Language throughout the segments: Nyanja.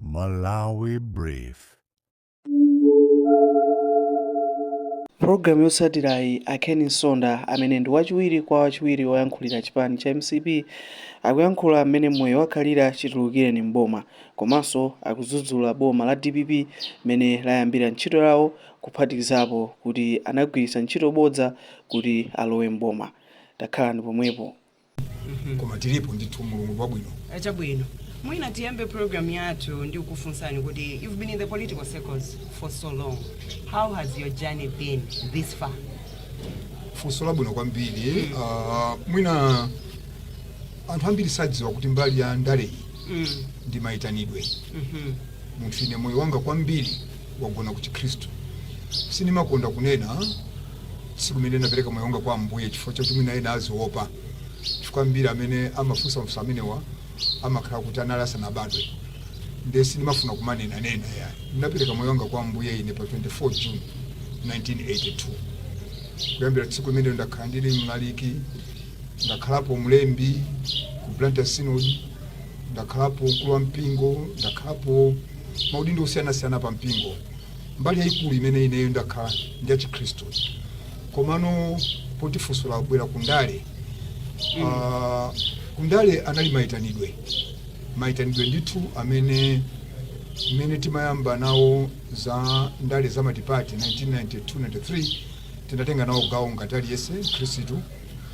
Malawi Brief. Pulogalamu yotsatirayi a Ken Nsonda amene ndi wachiwiri kwa wachiwiri woyankhulira chipani cha mcp akuyankhula mmene moyo wakhalira chitulukireni m'boma komanso akudzudzula boma la dpp mmene layambira ntchito yawo kuphatikizapo kuti anagwiritsa ntchito bodza kuti alowe m'boma. Takhalani pompo. koma tilipo ndithu mulungu wabwino Eh, chabwino mwina tiyambe program yathu ndi kukufunsani kuti you've been in the political circles for so long how has your journey been this far funso labwino kwambiri Ah, mwina anthu ambiri sadziwa kuti mbali ya ndaleyi mm. ndi mayitanidwe mhm. munthu ine moyo wanga kwambiri wagona ku chikhristu sindimakonda kunena tsiku limene ndinapereka moyo wanga kwa Ambuye chifukwa choti mwina ena aziopa, chifukwa ambiri amene amafunsa mafunso amenewa amakhala kuti anali asanabadwe, ndiye sindimafuna kumanena ya. Ndinapereka moyo wanga kwa Ambuye ine pa 24 June 1982. Kuyambira tsiku limenelo ndakhala ndili mlaliki, ndakhalapo mlembi ku Blantyre Synod, ndakhalapo mkulu wa mpingo, ndakhalapo maudindo osiyanasiyana pa mpingo. Mbali yaikulu imene ineyo ndakhala ndi yachikhristu komano poti funso lagwera ku ndale mm. uh, ku ndale anali maitanidwe maitanidwe ndithu amene mmene timayamba nawo za ndale za matipati 1992-93 tinatenga nawo gawo ngati aliyense khristu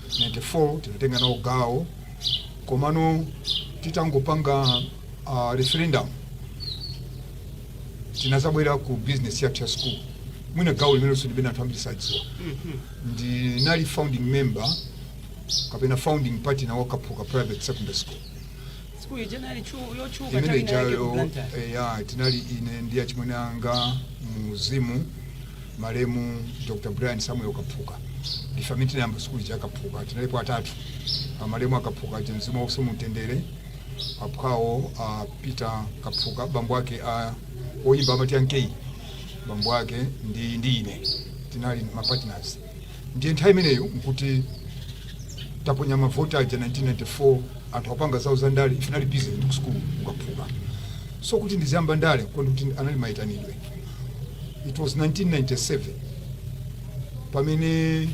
94 tinatenga nawo gawo komano titangopanga uh, referendum tinazabwera ku business yathu ya school mwina gawo limenenso ndimanena anthu ambiri sadziwa ndinali founding member kapena founding partner wa kaphuka private secondary school Sukulu ija inali yotchuka imene chali nali ijayo ku Blantyre. eh, ya tinali ine ndi achimwene anga muzimu malemu dr brian samuel kaphuka ndife amene tinayamba sukulu ya kaphuka tinalipo atatu Ah, malemu a Kaphuka aja mzimu wawo uwuse mumtendere Aphwawo a Peter Kaphuka bambo ake a oyimba amati Yankee bambo ake ndi ndi ine tinali ma partners ndiye nthawi imeneyo nkuti taponya mavoti aja 1994 anthu apanga zawo za ndale ife tinali busy ndi ku school ku Kaphuka so kuti ndiziyamba ndale kunena kuti anali mayitanidwe it was 1997 pamene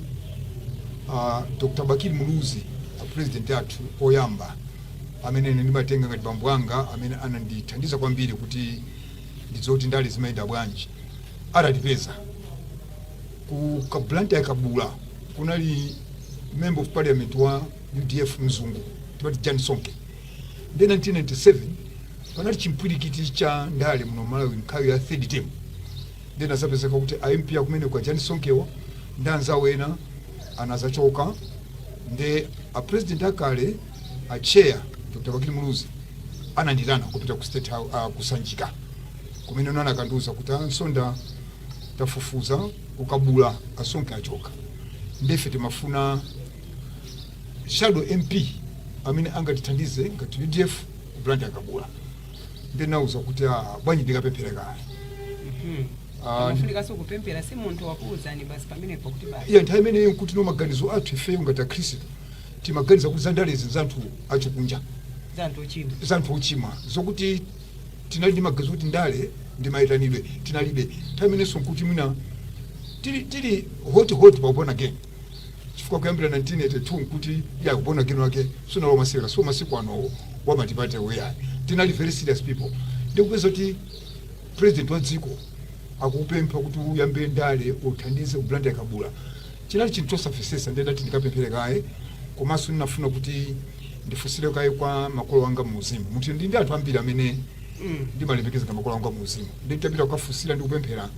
uh, Dr. Bakili Muluzi A president athu oyamba amene ine ndimatenga ngati bambo anga amene anandithandiza kwambiri kuti ndidziwe kuti ndale zimayenda bwanji atatipeza ku ka Blantyre Kabula kunali member of parliament wa UDF mzungu timati Jan Sonke nde 1997 panali chimpwirikiti cha ndale muno Malawi nthawi ya third term Then azapezeka kuti a MP akumeneko a Jan Sonkewa ndi anzawo ena anazachoka nde a president akale a chair Dr. Bakili Muluzi ananditana kupita ku state house uh, ku Sanjika kumene anakandiuza kuti "a Msonda tafufuza ku Kabula a Sonke achoka ndefe timafuna shadow MP amene angatithandize ngati UDF ku Blantyre Kabula ndinauza kuti ah, bwanji ndikapemphere kaye Mhm. Ah, Amafunikanso kupemphera si munthu wakuwuzani basi pamenepo kuti basi. iya nthawi imeneyi nkuti no maganizo athu ifeyo ngati akhristu timaganiza kuti zandalezi zanthu achikunja Za anthu ochimwa. zanthu ochimwa zokuti tinali ndi maganizo kuti ndale ndi mayitanidwe tinalibe nthawi imenenso nkuti mwina tili tili hot hot pa uborn again chifukwa kuyambira 1982 nkuti ya uborn again wake sunali wa masewera so masiku ano wa matipate weya tinali very serious people ndikupeza kuti president wa dziko akupempha kuti uyambe ndale uthandize ku Blantyre Kabula chinali chinthu chosamvetsetsa ndidati ndikapemphere kaye komanso ndinafuna kuti ndifunsire kaye kwa makolo anga mu uzimu munthu ndi ndi anthu ambiri amene ndimalemekeza ngati makolo anga mu uzimu nditapita kukafunsira ndi kupemphera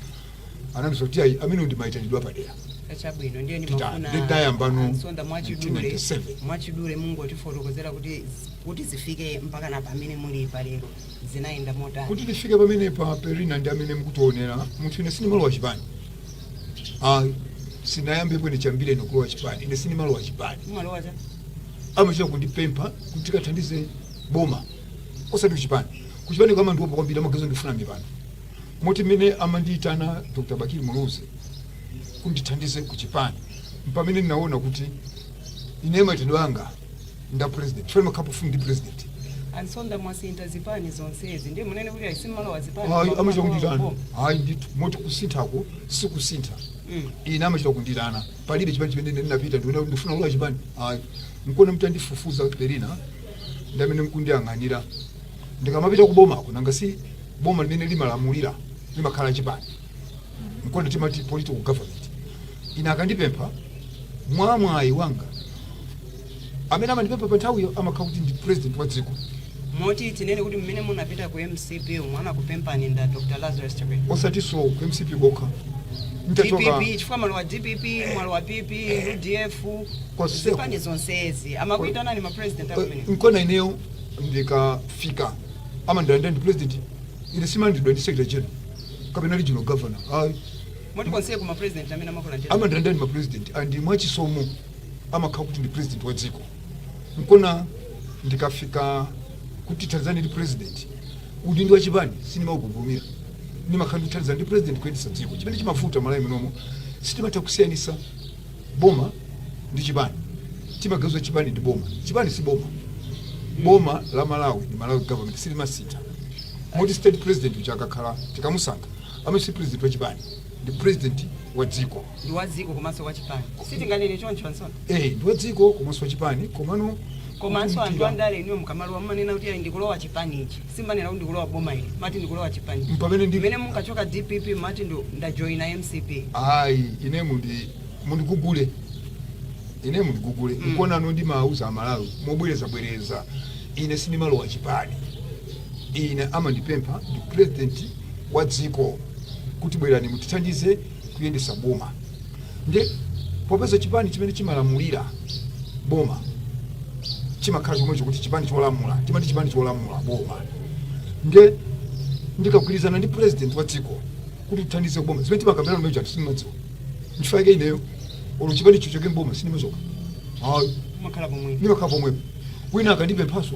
anandiuza kuti ayi amenewo ndi mayitanidwe apadera chabwino ndiye Tita- ndimafuna ndi tayambano a Msonda mwachidule 1997. mwachidule mungotifotokozera kuti kuti zifike mpaka na pamene muli palero zinayenda motani kuti tifike pamene pa Perina ndi amene mukundionera munthu ine sindimalowa chipani Ah, sinayambepo ine chiyambire ine kulowa chipani ine sindimalowa chipani mumalowa cha amachita kundipempha kuti tikathandize boma osati kuchipani kuchipani amandiwopa kwambiri amaganiza ndifuna mipando Moti mmene amandiitana Dr Bakili Muluzi kuti ndithandize ku chipani mpamene ndinaona kuti ineyo maitanidwe anga nda president chifukwa ndimakhala pafupi ndi president a Msonda mwasintha zipani zonsezi ndiye munene kuti ayi simalowa zipani ayi koma amachita mumalowa kunditana kuboma. ayi ndithu moti kusinthako sikusintha Mm. ine amachita kunditana palibe chipani chimene ine ndinapita ndiona kuti ndifuna kulowa chipani ayi nkuona mtandifufuza kuti Perina ndamene mkundiyang'anira ndikamapita kubomako nanga si boma limene limalamulira limakhala la chipani nkona timati political government ine akandipempha mwa mwayi wanga amene amandipempha pa nthawiyo amakhala kuti ndi president wa dziko moti tinene kuti mmene munapita ku mcp umo anakupempani ndi a dr lazarus chakwera osatinso ku mcp kokha nitachoka dpp chifukwa mwalowa dpp mwalowa pp udf Konseko. zipani zonsezi amakuitanani mapresident amene nkona ineyo ndikafika amandilandira ndi president ine simandilandidwa ndi secretary general kapena regional governor ayi moti konse kumene president amene amakulandira amandilandira ndi mapresident and mwachisomo amakhala kuti ndi president wa dziko nkona ndikafika kuti tithandizane ndi president udindo wa chipani sindimaukakamira ndimakhala ndithandizane ndi president kuyendetsa dziko chimene chimavuta malawi munomo sitimatha kusiyanisa boma ndi chipani timaganiza chipani ndi boma chipani si boma boma la malawi ndi malawi government silimasintha moti state president uja akakhala tikamusankha amenewo si president wa chipani ndi president wa dziko ndi wa dziko komanso wa chipani sitinganene choncho a nsonda eh ndi wa dziko komanso wa chipani komano komanso anthu andale inuyo mukamalowa mumanena kuti ayi ndikulowa chipani ichi simumanena kuti ndikulowa boma ili mumati ndikulowa chipani Mpamene ndi- mene munkachoka dpp mumati ndo ndajoina mcp ayi ine mundi mundigugule ine mundigugule Mm. nkona ano ndimauza amalawi mobwerezabwereza ine sindimalowa chipani ine amandipempha ndi president wa dziko kuti bwerani mutithandize kuyendesa boma nde popeza chipani chimene chimalamulira boma chimakhala chomwecho kuti chipani cholamula timati chipani cholamula boma nde ndikagwirizana ndi president wa dziko kuti tithandize boma zimene timakambirana nazo anthu samadziwa nchifukwa yake ineyo olo chipani chichoke mboma sindimachoka ayi umakhala pomwe ndimakhala pomwepo wina akandipemphanso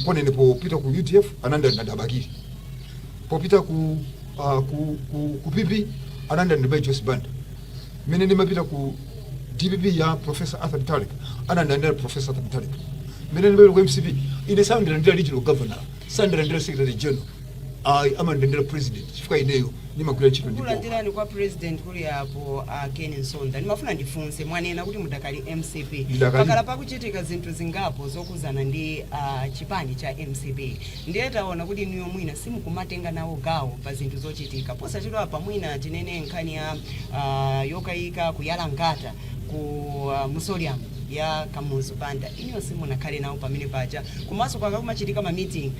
Nkona ine popita ku udf anandilandira Bakili, popita ku, uh, ku, ku, ku PP anandilandira mai Joyce Banda, mene ndimapita ku DPP ya Professor Arthur Mutharika anandilandira Professor Arthur Mutharika, mene ndimapita ku MCP ine sandilandira regional governor, sandilandira secretary general ayi amandilandira president chifukwa ineyo ndimagwira ntchito ndi boma kulandirani kwa president kuli apo a ken msonda ndimafuna ndifunse mwanena kuti mudakali mcp Ndidakali. pakhala pakuchitika zinthu zingapo zokhudzana ndi ah, chipani cha mcp ndiye taona kuti inuyo mwina simukumatenga nawo gawo pa zinthu zochitika posachedwa apa mwina tinene nkhani ya ah, yokayika kuyala nkhata ku ah, mausoleum ya kamuzu banda inuyo simunakhale nawo pamene paja komanso pakakumachitika ma meeting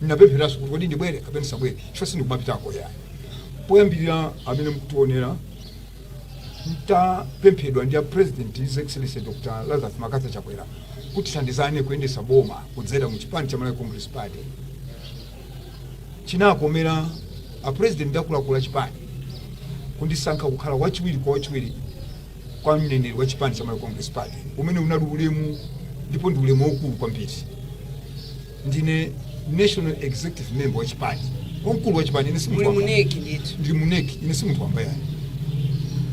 Ndinapempheranso kuti kodi ndibwere kapena ndisabwere chifukwa sindikumapitako yayi. Poyambirira amene mukutionera mtapemphedwa ndi a President His Excellency Dr. Lazarus McCarthy Chakwera kuti tithandizane kuyendetsa boma kudzera mu chipani cha Malawi Congress Party. Chinakomera a President ndi akuluakulu a chipani kundisankha kukhala wachiwiri kwa wachiwiri kwa mneneri wa chipani cha Malawi Congress Party umene unali ulemu ndipo ndi ulemu waukulu kwambiri. ndine national executive member wa chipani wamkulu wa chipani ine si munthu muli wamba. mu NEC ndithu ndili mu NEC ine si munthu wamba yayi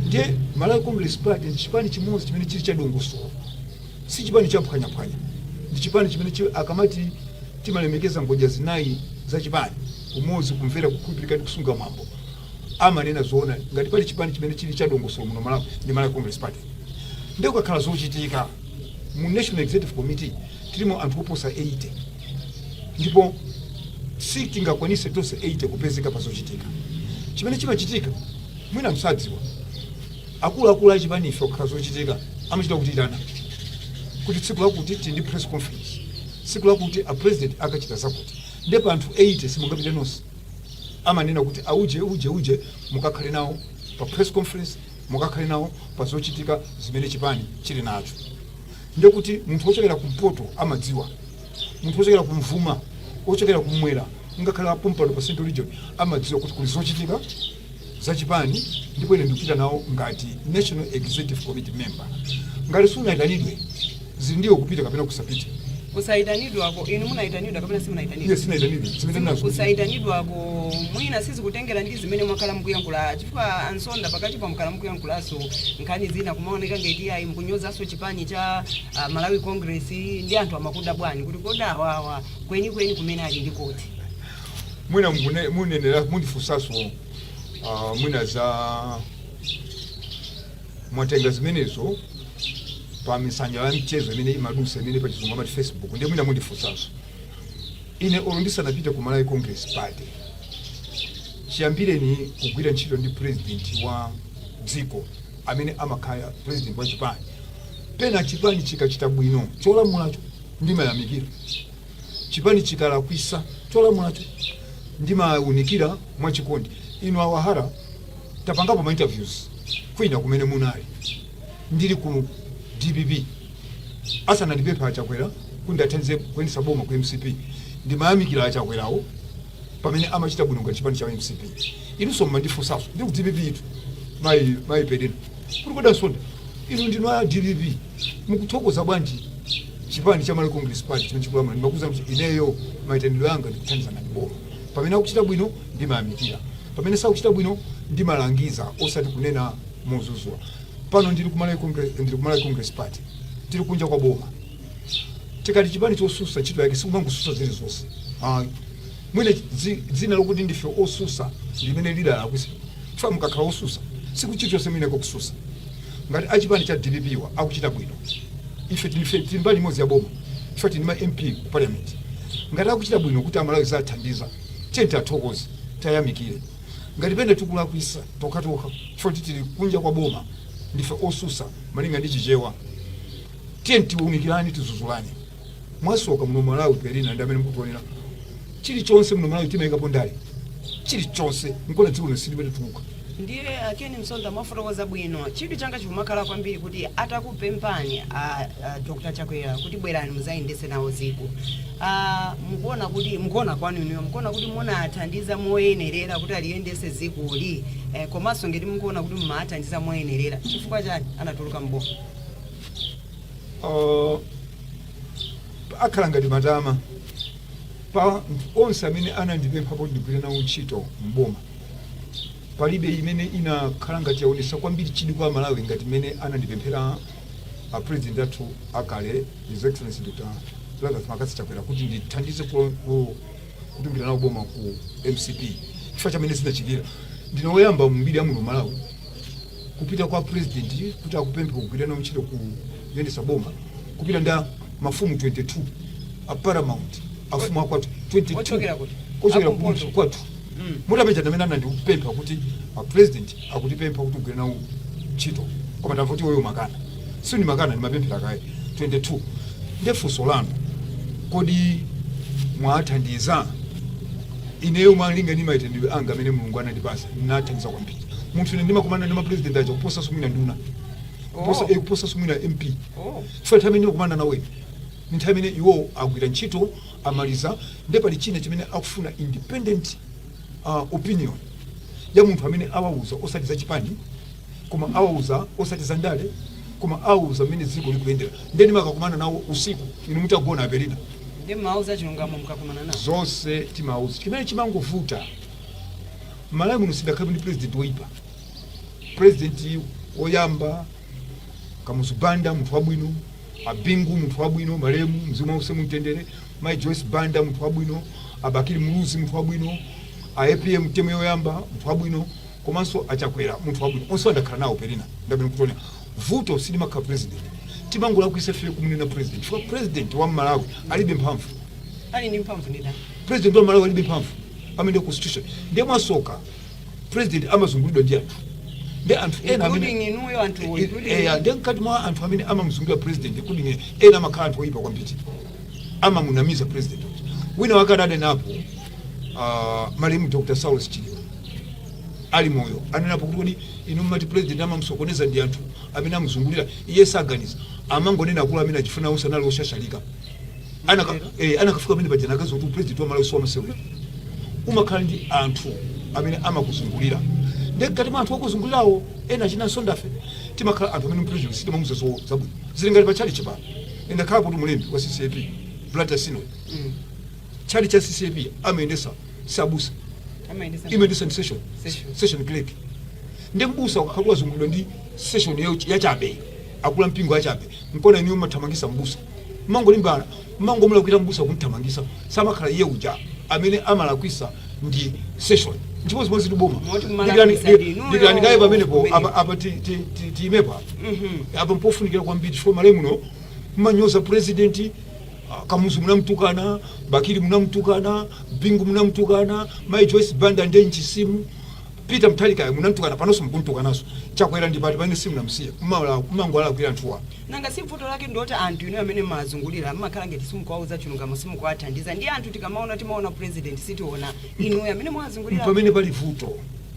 ndiye malawi congress party ndi chipani chimodzi chimene chili cha dongosolo si chipani cha phwanyaphwanya ndi chipani chimene chi- akamati timalemekeza ngodya zinayi za chipani umodzi kumvera kukhulupirika ndi kusunga mwambo amanena zoona ngati pali chipani chimene chili cha dongosolo muno malawi ndi malawi congress party ndiye kukakhala zochitika mu national executive committee Tilimo anthu oposa 80 ndipo sitingakwanitse tonse 80 kupezeka pa zochitika. Chimene chimachitika mwina simudziwa, akuluakulu a chipani ife kukakhala zochitika amachita kutiitana kuti tsiku lakuti tili ndi press conference, tsiku lakuti a president akachita zakuti. Nde pa anthu 80 simungapite nonse. Amanena kuti auje, uje, uje mukakhale nawo pa press conference, mukakhale nawo pa zochitika zimene chipani chili nacho. ndiye kuti munthu wochokera kumpoto amadziwa munthu wochokera kumvuma wochokera kumwera ngakhale apompano pa central region amadziwa kuti kuli zochitika zachipani ndipo ine ndikupita nawo ngati national executive committee member ngati sunayitanidwe zili ndi iwe kupita kapena kusapita Kusaitanidwako, inu munaitanidwa kapena simunaitanidwe? Yes sinaitanidwe, zimene Zim- nazo. kusaitanidwako mwina sizikutengera ndi zimene mwakhala mukuyankhula chifukwa a Msonda pakatipa mwakhala mukuyankhulaso nkhani zina kumaoneka ngati iyayi mukunyozaso chipani cha ah, malawi congress ndi anthu amakudabwani kuti kodi awawa kwenikweni kumene ali ndi kuti mwina mune- munenera mundifunsaso ah, mwina za mwatenga zimenezo pa masamba a mchezo amene amadutsa amene pachizungu amati facebook ndiye mwina mundifunsanso ine olo ndisanapite ku malawi congress party chiyambire kugwira ntchito ndi president wa dziko amene amakhala president wa chipani pena chipani chikachita bwino cholamulacho ndimayamikira chipani chikalakwisa cholamulacho ndimaunikira mwachikondi inu awahara tapangapo ma interviews kwina kumene munali ndili ku dpp asanandipempha achakwera kuti ndiathandize kuyendetsa boma ku mcp ndimayamikira achakwerawo pamene amachita bwino ngati chipani cha mcp inunso mumandifunsanso ndili ku dpp itu mayi mayi perina kuti kodi a msonda inu ndinu a dpp mukuthokoza bwanji chipani cha malawi congress party chimene chikulamula ndimakuuzani kuti ineyo mayitanidwe anga ndikuthandiza ngati boma pamene akuchita bwino Ndimayamikira pamene sakuchita bwino. Ndimalangiza osati kunena modzudzula. Pano ndili ku Malawi Congress, ndili ku Malawi Congress Party. Tili kunja kwa boma. Tikati chipani chotsutsa ntchito yake sikumangotsutsa zilizonse. Ayi. Mwina dzi, dzina lokuti ndife otsutsa ndi limene lidalakwitsa. Chifukwa mukakhala otsutsa sikuti chilichonse muyenera kutsutsa. Ngati achipani cha DPP-wa akuchita bwino. Ife tili tili mbali imodzi ya boma. Chifukwa tili ndi ma MP ku parliament. Ngati akuchita bwino kuti a Malawi zawathandiza. Tiyeni tiathokoze, tiayamikire. Ngati pena tikulakwitsa tokhatokha chifukwa choti tili kunja kwa boma, ndife otsutsa malinga ndi Chichewa, tiyeni tiunikirane, tidzudzulane. Mwasoka muno Malawi, Perina ndi amene mukutionera, chilichonse muno Malawi timaikapo ndale, chilichonse. Nkuona dziko lino silikutukuka. Ndiye a Ken Msonda mwafotokoza bwino. Chidwi changa chikumakhala kwambiri kuti atakupemphani a, a Dr. Chakwera kuti bwerani mudzayendetse nawo dziko. Ah, mukuona kuti mukuona kwanu inuyo mukuona kuti munathandiza moyenerera kuti aliyendetse dzikoli eh, komanso ngati mukuona kuti mumathandiza moyenerera chifukwa chani anatuluka mboma? uh, akhala ngati matama pa onse amene anandipempha kuti ndigwire nawo ntchito mboma palibe imene inakhala ngati yaonesa kwambiri chidwi kwa amalawi ngati imene anandipemphera a president athu akale his excellency dr lazarus mccarthy chakwera kuti ndithandize ku- ku- kutumikira nawo boma ku mcp chifukwa zimene zinachitika ndine woyamba m'mbiri ya muno malawi kupita kwa president kuti akupemphe kugwira nawo ntchito kuyendetsa boma kupita ndi mafumu 22 a paramount afumu akwathu 22 Ochokera kuti? ochokera Akumpoto. kwathu mutapeza ndamene anandipempha kuti a president akukupempha kuti ugwire nawo ntchito koma ndamva kuti iweyo umakana si ndimakana ndimapemphera kaye 22 nde funso lanu kodi mwathandiza ineyo malinga ndi maitanidwe anga amene mulungu anandipatsa ndathandiza kwambiri munthu ine ndimakumana ndi mapresident aja kuposa mwina nduna kuposa Oh. eh, kuposa mwina mp Oh. chifukwa nthawi imene ndimakumana nawo ine ndi nthawi imene iwo agwira ntchito amaliza nde pali china chimene akufuna independent uh, opinion ya munthu amene awauza osati za chipani koma awauza osati za ndale koma awauza mmene dziko likuyendera ndeni makakumana nawo usiku inu mutagona apelina ndimawauza chilungamo ndikakumana nawo zonse timauza chimene chimangovuta malawi muno sitidakhale ndi president woyipa president woyamba Kamuzu Banda munthu wabwino, Abingu munthu wabwino, malemu mzimu wause mumtendere, Mai Joyce Banda munthu wabwino, Abakili Muluzi munthu wabwino, a APM temu yoyamba munthu wabwino, komanso achakwera munthu wabwino onsewa ndakhala nawo pelina ndabwera kuona vuto silimakhala president timangolakwisa ife kumunena president chifukwa president wa malawi alibe mphamvu ali ndi mphamvu ndani president wa malawi alibe mphamvu amene constitution ndiye mwasoka president amazungulidwa ndi anthu ndi anthu ena amene Including inuyo anthu including eya ndi mkati mwa anthu amene amamuzungulira president including ine ena amakhala anthu oyipa kwambiri amamunamiza president wina wake adanenapo ah, malemu dr saulos chilima ali moyo anenapo kuti kodi inu mmati president amamusokoneza ndi anthu amene amuzungulira iye saganiza amangonena akuluwo amene achifuna usanali oshashalika anaka eh, anakafika pamene paja anakaziwa kuti upresident wa malawi siwamasewera umakhala ndi anthu amene amakuzungulira ndi mkati mwa anthu okuzungulirawo ena ena achina ndife timakhala anthu amene president sitimamuza zo zabwino zili ngati pa chalichi pano ndakhala kuti mulembi wa ccap blantyre synod chalichi cha ccap amayendesa sabusa amayendesa imayendesa ndi session Session. session clerk ndi mbusa akakhala wazungulidwa ndi session ya- yachabe akulu ampingo achabe Mpomwe inuyo mmathamangisa m'busa mmangolimbana mmangomulakwira m'busa kumthamangisa samakhala iye uja amene amalakwisa ndi session nchimozimozitu boma Moti kumalakwisa Dikirani- ndi inuyo dikirani kaye pamenepo kumeneko apa- apa ti- ti- ti- tiimepo apa apa mpofunikira kwambiri chifukwa malawi muno mmanyoza purezidenti ah, kamuzu munamtukana bakili munamtukana bingu munamtukana mai joyce banda nde nchisimu Peter Mutharikayo munamtukana panoso mukumtukanaso chakwera ndipo pano simunamusiye mumangowalakwira anthuwa. Nanga si vuto lake ndiloti anthu inuyo amene mmawazungulira mmakhala ngati simukuwauza chilungamo simukuwathandiza ndiye anthu tikamaona timaona president sitiona inuyo amene mwawazungulira mpamene pali vuto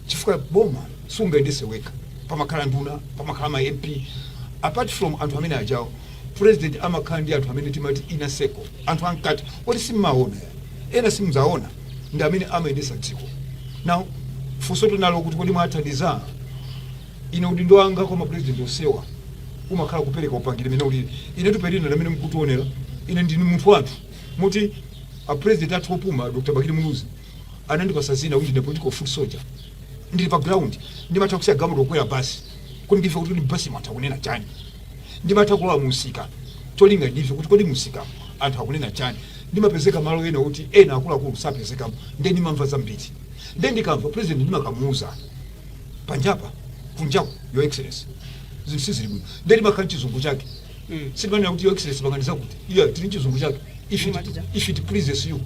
chifukwa boma sungayendese wekha pamakhala nduna pamakhala ma mp apart from anthu amene ajawo president amakhala ndi anthu amene timati inner circle anthu amkati oti simmaona ena simudzaona ndi amene amayendetsa dziko now funso mwati kuti kodi mwathandiza ine udindo wanga kwa mapurezidenti onsewa umakhala kupereka upangiri mene ulili ine apelina mmene mukundionera ine ndini munthu wa anthu moti apurezidenti athu opuma dr bakili muluzi anandipasa zina kuti ndine political foot soldier ndili pa ground ndimatha kusiya galimoto kukwera basi kuti ndimve kuti mbasi anthu akunena chani ndimatha kulowa mumsika cholinga ndimve kuti kodi mumsika anthu akunena chani ndimapezeka malo ena oti ena akuluakulu sapezekamo nde ndimamva zambiri nde ndikamva president ndimakamuuza panjapa kunjaku your excellency zinthu sizili bwino nde ndimakhala mchizungu chake Mm. sindimanena kuti your excellency panganiza kuti iya tili mchizungu chake if it pleases you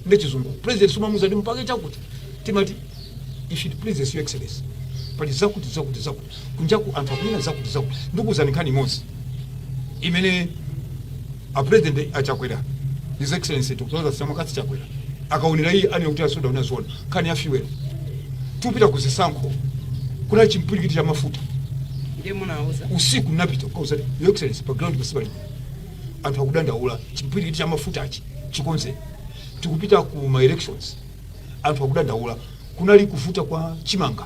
nde chizungu president sumamuuza ndi mpake chakuti timati if it pleases your excellency pali zakuti zakuti zakuti kunjaku anthu akunena zakuti zakuti ndikuwuzani nkhani imodzi imene a president a Chakwera his excellency dr Lazarus Chakwera akaonera iye anena kuti a Nsonda unaziona nkhani ya fuel tikupita ku zisankho kunali chimpwirikiti cha mafuta ndiye munauza usiku napita ukauza your excellency pa ground pasipali bwino anthu akudandaula chimpwirikiti cha mafutachi chikonze tikupita ku ma elections anthu akudandaula kunali kuvuta kwa chimanga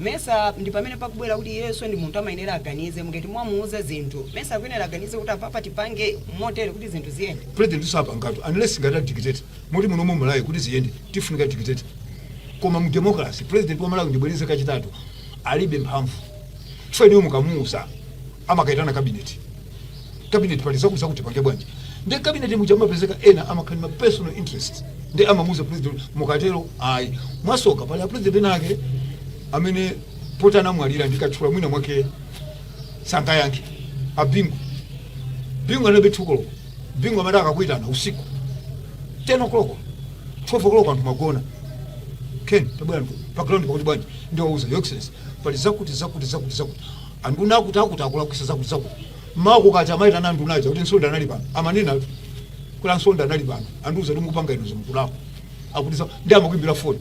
Mesa ndipamene pakubwera kuti iyeso ndi munthu amayenera aganize nde ngati mwamuuza zinthu mesa akuyenera aganize kuti apapa tipange motere kuti zinthu ziyende. President sapangatu unless ngati a dictator moti muno mu Malawi kuti ziyende tifunika dictator koma mu democracy president wa Malawi ndibwereze kachitatu alibe mphamvu so inu mukamuuza amakaitana cabinet cabinet pali zakuti zakuti tipange bwanji ndi cabinet muja amapezeka ena amakhala ma personal interest ndi amamuuza president mukatero ayi mwasoka pali a president ena ake amene poti anamwalira ndikatchula mwina mwake sangayankhe a bingu bingu anabe 2 koloko bingu amati akakuitana usiku 10 o'clock 12 o'clock anthu magona ken tabwera pa ground pakuti bwanji ndiwauze your excellency pali zakuti zakuti zakuti zakuti Anduna akuti akuti akulakwisa zakuti zakuti. Mmawa kukacha amaitana anduna aja kuti Nsonda anali pano. Amanenatu kuti a Nsonda anali pano. Andiuza kuti mukupanga inu izi mukulakwa. Akuti ndiye amakuimbira foni.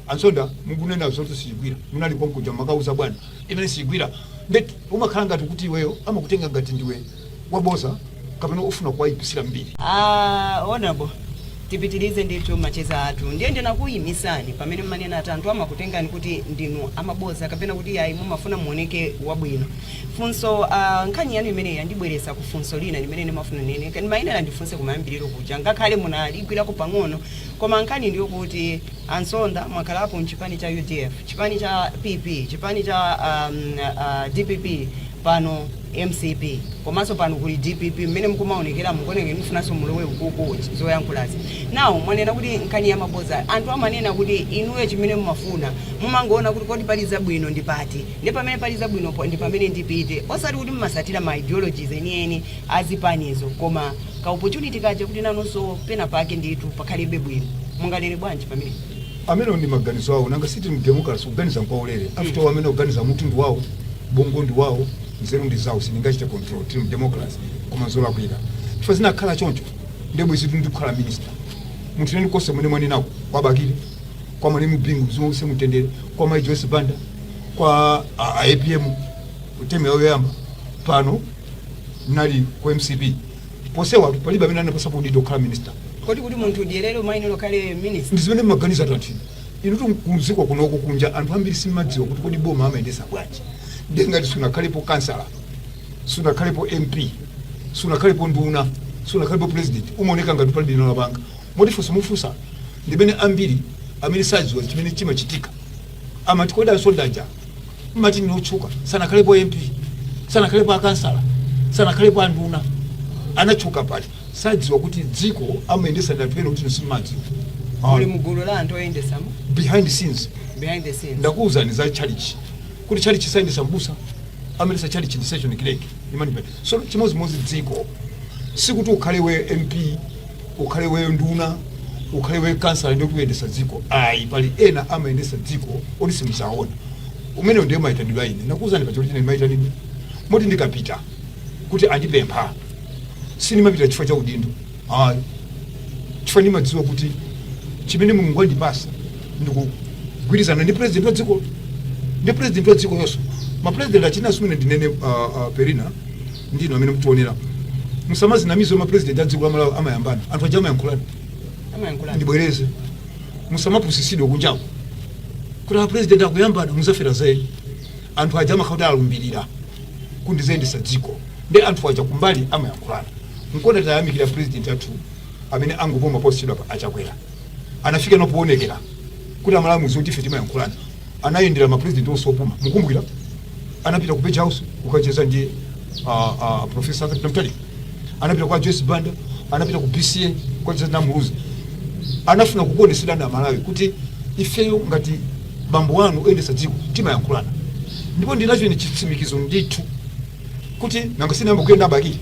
A Nsonda mukunena zoti siyigwira. Munali konkuja mumakauza bwana. Imene siyigwira. Nde umakhala ngati kuti iweyo amakutenga ngati ndiwe waboza kapena ofuna kuwayipisira mbiri Ah, honorable tipitirize ndithu macheza athu ndiye ndinakuyimisani pamene mmanena ati anthu amakutengani kuti ndinu amaboza kapena kuti ayi mumafuna muoneke wabwino funso ah, nkhani yanu imeneyi yandibweresa ku funso lina limene ndimafuna nene kani ndimayenera ndifunse kumayambiriro kuja ngakhale munaligwirako pang'ono koma nkhani ndiyo kuti a Nsonda mwakhalapo mchipani cha udf chipani cha pp chipani cha um, uh, dpp pano mcp komanso pano kuli dpp mmene mukumaonekera mukuonekera mufunanso mulowe ukuku zoyankhulazi now mwanena kuti nkhani ya maboza anthu amanena kuti inuyo chimene mumafuna mumangoona kuti kodi pali zabwino ndi pati ndi pamene pali zabwino po- ndi pamene ndipite osati kuti mumasatira ma ideologies enieni a zipanizo koma ka opportunity kaja kuti nanonso pena pake ndithu pakhalibe bwino munganene bwanji pamenepo amenewo ndi maganizo awo nanga siti mdemokrasi kuganiza nkwaulere after amene akuganiza mutundu wawo bongo ndi wawo nzeru ndi zawo sindingachite control tili mu democracy koma zolakwika chifukwa zinakhala choncho ndiye bwezitu ndikukhala minister munthune konse kumene mwanenako kwa bakili kwa malemu bingu mzimu uuse mumtendere kwa mai joyce banda kwa a- a apm temu yawo yoyamba pano mnali ku mcp onsewatu palibe amene anandipasa udindo wokhala minister kodi kuti munthu udyerere umayenera ukhale minister ndi zimene mmaganiza anthu inutu kudziko kunoko kunja anthu ambiri simadziwa kuti kodi boma amayendesa bwanji ndiye ngati sunakhalepo kansala sunakhalepo mp sunakhalepo nduna sunakhalepo president umaoneka ngati palibe chimene wapanga moti funso mufunsa ndimene ambiri amene sadziwa chimene chimachitika amati kodi a msonda aja mmati ndi otchuka sanakhalepo mp sanakhalepo akansala sanakhalepo anduna anatchuka pati sadziwa kuti dziko amayendesa ndi anthu ena kuti inu simmadziwa muli Ayi. mugulu la anthu oyendesa mu behind scenes behind the scenes ndakuwuzani za chalichi kuti chalichi sayendesa mbusa amayendesa chalichi ndi session clerk imanipani so chimodzimodzi dziko sikuti ukhale we mp ukhale we nduna ukhale we kansala ndiye ukuyendesa dziko ayi pali ena amayendesa dziko oti simzaona amenewo ndiye mayitanidwe a ine ndakuwuzani pachoti ine mayitanidwe moti ndikapita kuti andipempha sindimapita chifukwa cha udindo ayi chifukwa ndimadziwa kuti chimene mulungu andipasa ndikugwirizana ndi president wa dziko ndi president wa dziko onse mapresident china chimene ndinene uh, uh, poyera ndi inu amene mtionera musamazinamize mapresident a dziko la malawi amayambana anthu aja amayankhulana amayankhulana ndibwereze musamapusisidwe kunjako kuti apresident akuyambana muzafera za eni anthu aja amakhala kuti alumbirira kuti ndizayendesa dziko nde anthu aja kumbali amayankhulana nkona tayamikira president athu amene angopuma posachedwapa achakwera anafika no poonekera kuti amalawi zoti ife timayankhulana anayendera ma president onse opuma mukumbukira anapita ku page house kukacheza ndi ah, ah, professor Arthur Peter Mutharika anapita kwa Joyce Banda anapita ku BCA kukacheza na Muluzi anafuna kukuoneserani amalawi kuti ifeyo ngati bambo wanu oyendetsa dziko timayankhulana ndipo ndinacho ine chitsimikizo ndithu kuti nanga sinayamba kuyenda abakili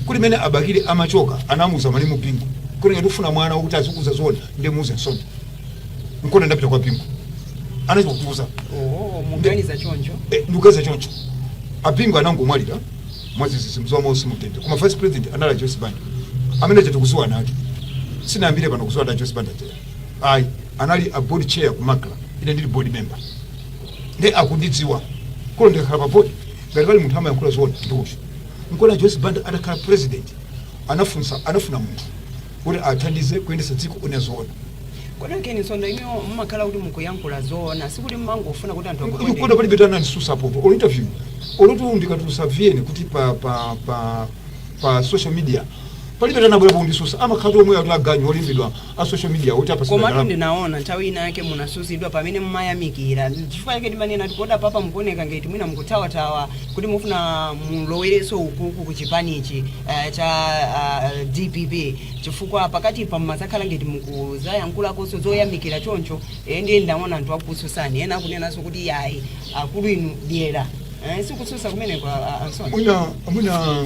kuti mene abakili amachoka anamuuza malemu bingu kuti ngati ufuna mwana wokuti azikuuza zona ndiye muuze msonda nkona ndapita kwa bingu anacho kutuza oho muganiza choncho Eh, ndikuganiza choncho abingu anangomwalira mwazizizi mzimu wawo uuse mumtendere koma vice president anali a joyce banda amene tikuziwana nawo sitinayambire pano kuziwana a joyce banda tera ayi anali a board chair ku macra ine ndili board member nde akundidziwa kuti ndikakhala pa board ngati pali munthu amayankhula zoona ndi uti nkona joyce banda atakhala president anafunsa anafuna munthu kuti athandize kuyendetsa dziko onena zoona kodi a Ken Nsonda inuyo mumakhala kuti mukuyankhula zoona sikuti mumangofuna kuti anthu akuona akuone palibe atanandisusapopo olo interview olotu ndikatulusa tiyeni kuti pa pa pa pa social media palibe atanabwerapo ndikusususa amakhala omwe a ataganyu olembedwa a social media oti apasidwa komatu ndalama ndinaona nthawi inayake munasusidwa pamene mumayamikira chifukwa chake ndimanena kuti kodi apapa mukuoneka ngati mwina mukuthawathawa kuti mufuna mulowereso ukuku ku chipanichi eh, cha ah, dpp chifukwa pakatipa mumazakhala ngati mukuzayankhulakonso zoyamikira choncho eh, ndiye ndinaona anthu akukususani ena akunenanso kuti yayi akulu inu dyera eh, sikususa kumeneko ah, ah, a Nsonda. mwina mwina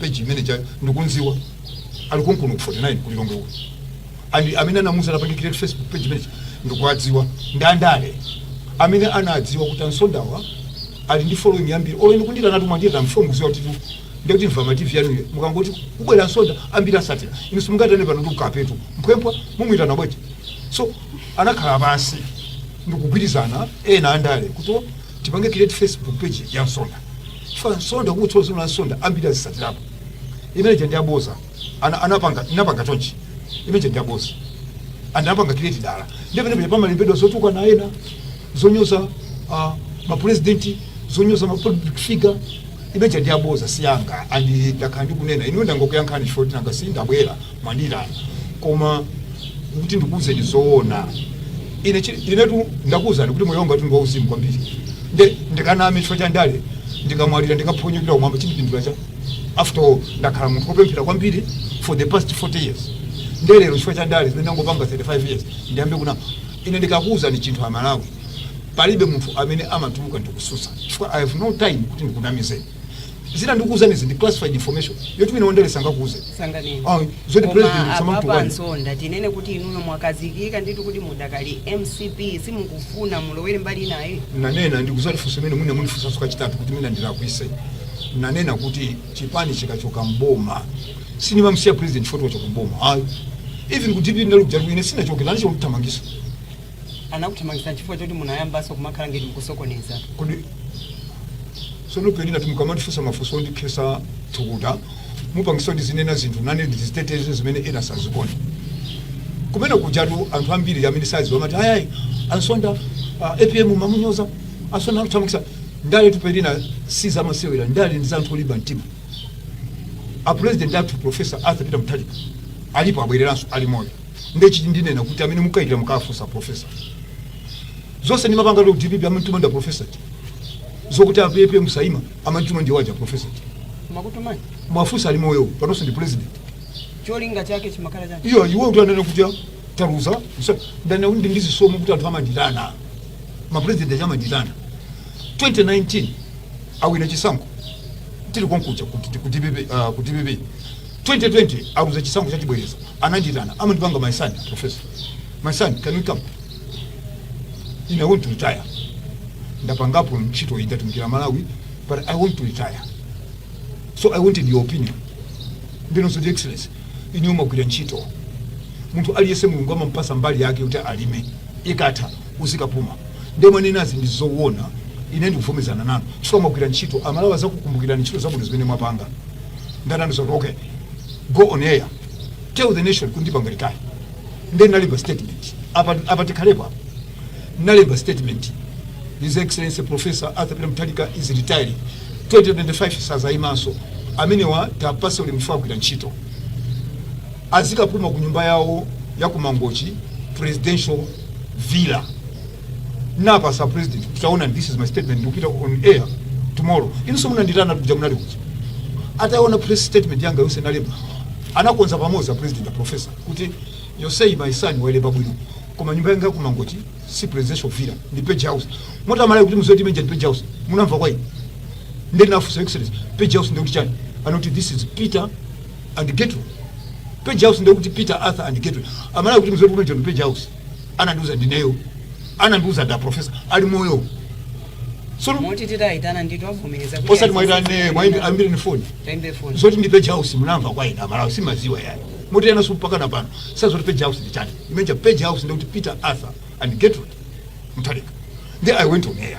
page imene ija ndikunziwa ali konkuno ku 49 ku Lilongwe uko and amene anamuza anapange create Facebook page imene ija ndikuwadziwa ndi andale amene anadziwa kuti a Nsondawa ali ndi following yambiri olo inu kundiyitana tu mwandiyitana chifukwa mukuziwa kuti ndiye kuti informative yanuyo mukangoti kubwera nsonda ambiri azisatira inu simungaitane pano chikapetu mphwempwa mumuyitana bwete so anakhala pansi ndikugwirizana ndi ena andale kuti tipange create facebook page ya nsonda chifukwa nsonda kungotchula zina la nsonda ambiri azisatirapo imene ija ndi yaboza ana anapanga anapanga chonchi imene ija ndi yaboza and anapanga create dala ndi pamene pamene pamalembedwa zotukwana ena zonyoza uh, mapurezidenti zonyoza mapublic figure imene ija ndi yaboza siyanga and ndakhala ndikunena ine ndangokuyankhani shoti nanga sindabwera Mwandilanda koma kuti ndikuuzeni zoona ine chi- inetu ndakuuzani kuti moyo wangatu ndi wauzimu kwambiri nde ndikaname chifukwa cha ndale ndikamwalira ndikaphonyokera kumwamba chindipindulira chani after all ndakhala munthu wopemphera kwambiri for the past 40 years nde lero chifukwa cha ndale zimene ndangopanga 35 years ndiyambe kunama ine ndikakuuzani chinthu amalawi palibe munthu amene amatuluka ndikususa chifukwa i have no time kuti ndikunamizeni zina ndikuuzanizi ndi classified information yoti wina wandale sangakuuze sanganene Ah, zoti president koma apapa sa- a Nsonda tinene kuti inuyo mwakazikika ndithu kuti mudakali mcp simukufuna mulowere mbali inayi nanena ndikuziwa funso imene mwina mundifunsanso kachitatu kuti mwina ndilakwise nanena kuti chipani chikachoka mboma sinimamsiya president poti wachoka mboma ayi even ku dpp ndali kujatu ine sinachoke anachita kundithamangisa anakuthamangitsani chifukwa choti munayambanso kumakhala ngeti mukusokoneza. Kodi sono penina timukamandifunsa mafunso ondikhesa thukuta mupangisa ndizinena zinthu nane ndiziteteze zimene ena sazikona kumene kuja tu anthu ambiri amene saziwa amati ayayi a Nsonda uh, apm mmamunyoza a Nsonda akuthamangisa ndaletu penina si zamasewera ndale ndi za anthu olimba mtima a president athu professor arthur peter mutharika alipo abwereranso ali moyo Nde chiti ndinena kuti amene mukayikira mukafunse professor. Zonse ndimapanga ku dpp amantuma nda professor ti. Zokuti a PP musaima amantuma ndi waja professor ti. Makutumani. Mwafunsa ali moyo panonso ndi president. Cholinga chake chimakhala chani? Iyo iwo kuti anene kuti taluza ndana ndi ndi chisomo kuti anthu amandiitana. Ma president amandiitana. 2019 awina chisankho tili konkuja kuti kuti uh, kuti 2020 aluza chisankho cha chibwereza anandiitana amandipanga my son professor my son can you come i want to retire ndapangapo ntchito iyi ndatumikira malawi but i want to retire so i wanted your opinion ndinonso ndi excellency inu mwagwira ntchito munthu aliyense mulungu amampasa mbali yake kuti alime ikatha uzikapuma nde mwanenazi ndi zowona ine ndikuvomezana nanu chifukwa mwagwira ntchito amalawi azakukumbukirani ntchito zabwino zimene mwapanga nde anandiuza okay go on air tell the nation kuti ndipanga retire nde nalemba statement apa apa tikhalepo apa nalemba statement his excellency professor arthur peter mutharika is retiring 2025 sazayimanso amenewa tiwapase ulemu agwira ntchito azikapuma ku nyumba yawo ya kumangochi presidential villa napasa president kuti taona this is my statement ndikupita on air tomorrow inu simunandiitana kuja munali kuja ataona press statement yanga yonse nalemba anakonza pamodzi a president a professor kuti you see my son walemba bwino koma nyumba yanga kumangochi si presidential villa ndi page house moti amalawi kuti muziti imeja ndi page house munamva kwa ine ndinafunsa excellency page house ndikuti chani anati this is peter and gertrude page house ndikuti peter arthur and gertrude amalawi kuti muziti imeja ndi page house anandiuza ndineyo anandiuza nda profesa ali moyo sono moti titawayitana ndithu avomereza kuti osati ayi- muwaitane mwaimbi ambiri ni foni Taimbe phone. zoti ndi page house munamva kwa ine amalawi simaziwa ayi moti enanso mpakana pano saziwa zoti page house ndi chani imeja page house ndikuti peter arthur and gertrude mutharika then i went on air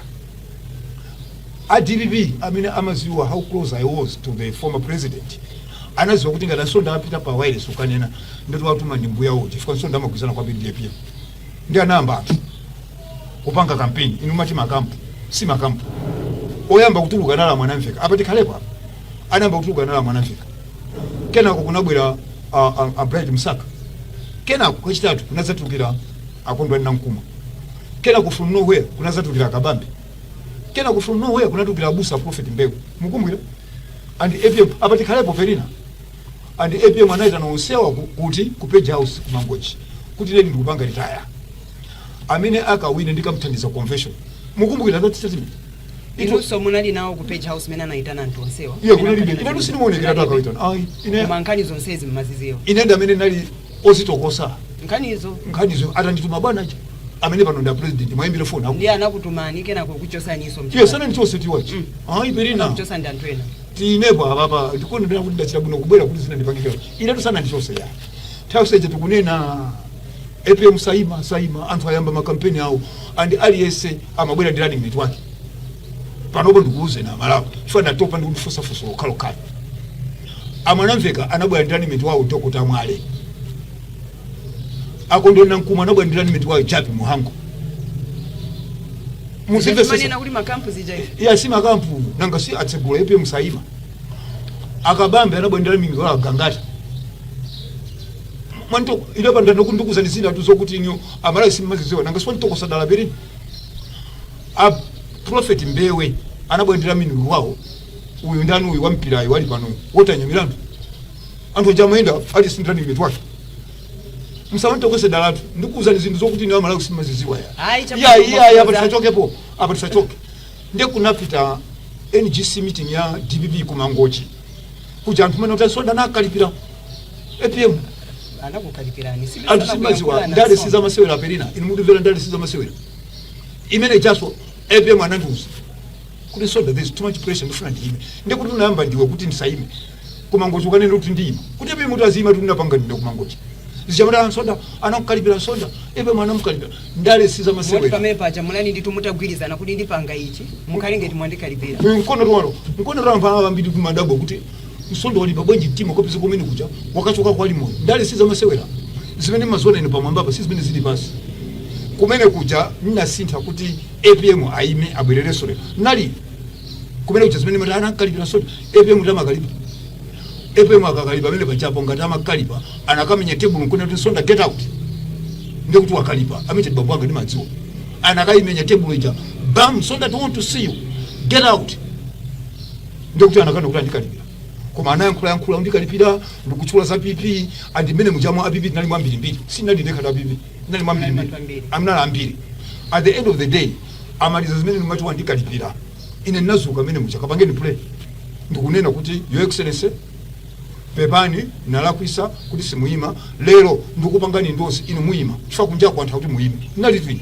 a dpp amene amaziwa how close i was to the former president anaziwa kuti ngati nsonda apita pa wireless ukanena ndoti watuma ndi mbuyawo chifukwa nsonda amagwizana kwambiri ndi apm nde anayamba anthu kupanga kampeni inu mati makampu si makampu oyamba kutuluka anali a mwanamveka apa tikhalepo apa anayamba kutuluka anali a mwanamveka kenako kunabwera a, a, a bright msaka kenako kwachitatu kunadzatulukira a kondwani nankhumwa kenako from nowhere kunadzatulukira a kabambe kenako from nowhere kunatulukira abusa prophet mbewe mukumbukira and apm apa tikhalepo felina and apm anayitana onsewa ku- kuti ku page house ku mangochi kuti ine ndikupanga retire amene akawine ndikamthandiza convention mukumbukira that statement Ito- inunso munali nawo ku page house mene anayitana anthu onsewa iye kunalibe inenso sindimaonekera akawaitana ayi ine koma nkhani zonsezi mmaziziwa ine ndamene nali ozitokosa nkhanizo atandituma bwana aja amene pano ndi apresident muwaimbire foni aku ndiye anakutumani kenako kukuchosaniso iye sanandichose tiwachi ayi brian kuchosa ndi anthu ena tinepo apapa ndikukondwera kuti ndachita bwino kubwera kuti zina ndipange clear inetu sanandichose ya nthawi yonse ija tikunena apm saima saima anthu ayamba makampeni awo and aliyense amabwera ndi running mate wake panopo ndikuuzeni amalawi chifukwa ndatopa ndi kufunsa funso lokhalokhalo A Mwanamveka anabwera ndi running mate wawo Dr. Mwale. A Kondwani Nankumwa anabwera ndi running mate wawo Jappie Mhango. Muzimvesesa. Manena kuti makampu zija ife. Eya si makampu nanga si atsegula APM Saima. A Kabambe anabwera ndi running mate wawo Gangata. Mwanto ile panda ndikukuuzani zinthu zokuti inuyo amalawi simmaziziwa nanga si mwantokosa dala Brian. A Prophet Mbewe anabwera ndi running mate wawo uyu ndani uyu wampirayo wali pano walter nyamilandu anthu aja amayenda aliyense ndi running mate wake musamantokose dalatu ndikuuzani zinthu zokuti inuyo amalawi simaziziwa ya Ayi, chakuti iya iya iya mukuza. apa tisachokepo apa tisachoke nde kunapita ngc meeting ya dpp kumangochi kuja anthu mene kuti a msonda anawakalipira apm anakukalipirani si anthu simaziwa ndale sizamasewera brian inu mundimvere ndale sizamasewera mmene mujaso apm anandiuza kuti msonda there is too much pressure ndifuna ndiyime ndikuti unayamba ndiwe kuti ndisayime kumangochi ukanene kuti ndiyima kuti apm uti aziyimatu ndinapanga ndine kumangochi zija mmati a msonda anakukalipira msonda apm anamukalipira ndale si zamasewera pamene paja munali nditu mutagwirizana kuti ndipanga ichi mukhale ngati mwandikalipira mkono twalo mkono twalo mpaka ambiri kumadabwa kuti msonda walimba bwanji mtima ukapeza kumene kuja wakachokako ali moyo ndale si zamasewera zimene mumaziona inu pamwambapa si zimene zili pansi kumene kuja nnasintha kuti apm aime abwererenso lero nali kumene kuja zimene mmati anankalipira msonda apm kuti amakalipa apm akanakalipa pamene pajapo ngati amakalipa anakamenya tebulo nkunena kuti msonda get out ndiye kuti wakalipa amene bambo anga ndimawadziwa anakaimenya tebulo ija bam msonda don't want to see you get out ndiye kuti anakana kuti andikalipira koma anayankhula yankhula kundikalipira ndikutchula za pp and mmene mujamwa a pp tinali mwambirimbiri sindinali ndekha a pp tinali mwambirimbiri munali ambiri at the end of the day amaliza zimene ndimati wandikalipira ine ndinazuka mmene muja kapangeni play ndikunena kuti your excellency pepani nalakwisa kuti simuyima lero ndikupangani endorse inu muyima chifukwa kunjaku anthu akuti muyime ndinali twini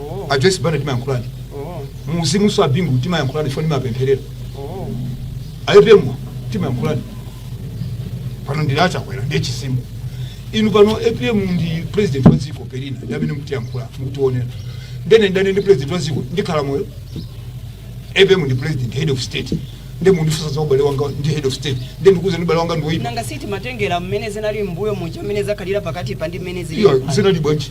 Oh. a Joyce Banda timayankhulana Oh. mu uzimunso a Bingu timayankhulana foni mapempherera Oh. APM timayankhulana pano ndili a Chakwera ndiye chisimu inu pano apm ndi president wa dziko pelina ndi amene mutiyankhula mukutiwonera ndene ndane ndi president wa dziko ndikhala moyo apm ndi president head of state nde mundifunsa za ubale wanga ndi head of state nde ndikuuzeni ubale wanga ndiwoipa nanga si timatengera mmene zinali mbuyo muja mmene zakhalira pakati pa ndi mmene zili iyo zinali bwanji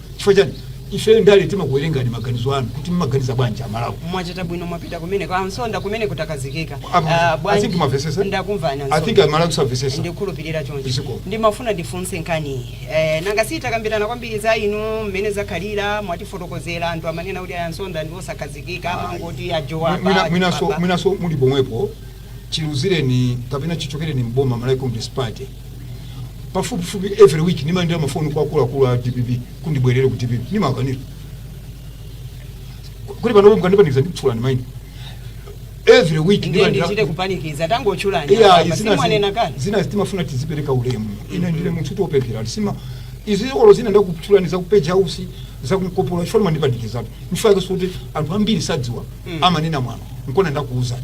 Chifukwa chani? Ifeyo ndale timakuwerengani maganizo anu kuti mmaganiza bwanji a Malawi. Mwachita bwino mwapita kumeneko. A Msonda kumeneko takhazikika. Apa, Ah, I think bwanji? mwamvesesa? Ndakumvani a I Msonda. think a Malawi samvesesa. ndikhulupirira choncho Zikomo. ndimafuna ndifunse nkhani eh, nanga sitakambirana kwambiri za inu mmene zakhalira mwatifotokozera anthu amanena kuti a Msonda ndi osakhazikika amangoti Mwina- ajowa mwinaso mwinaso muli pomwepo chiluzireni kapena chichokereni mboma Malawi Congress Party pafupifupi every week nimalandira mafoni kwa akuluakulu a dpp kuti ndibwerere ku dpp nimakanira kuti panopo mukandipanikiza ndikutchulani maina every week ndiye ndimalandira- ndichite kupanikiza tangotchulani iya apa, izina simwanena zi- kale zina zitimafuna tizipereka ulemu ine ndine munthu wopemphera ndisima izi olo zina ndakutchulani za ku Page House za ku Nkopola chifukwa mandipanikizatu nchifukwa yake sikuti anthu ambiri sadziwa amanena mwano nkona ndakuuzani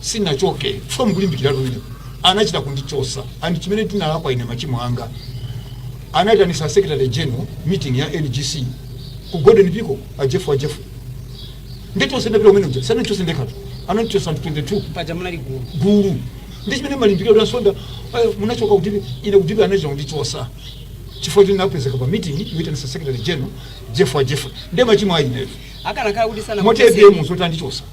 sinachoke chifukwa mukulimbikira lwino anachita kundichosa and chimene tinalakwa ine machimo anga anaitanisa secretary general meeting ya ngc ku golden peacock a Jeff wa Jeff nditosendapita umene uja sanachose ndekhatu anandichosa anthu 22 paja munali gulu gulu ndi chimene mwalimbikira a Msonda eh, munachoka kutili ine kutili anachita kundichosa chifukwa choti napezeka pa meeting yoitanisa secretary general Jeff wa Jeff ndiye machimo ayineyo akanakhala kuti sana moti apm zoti andichosa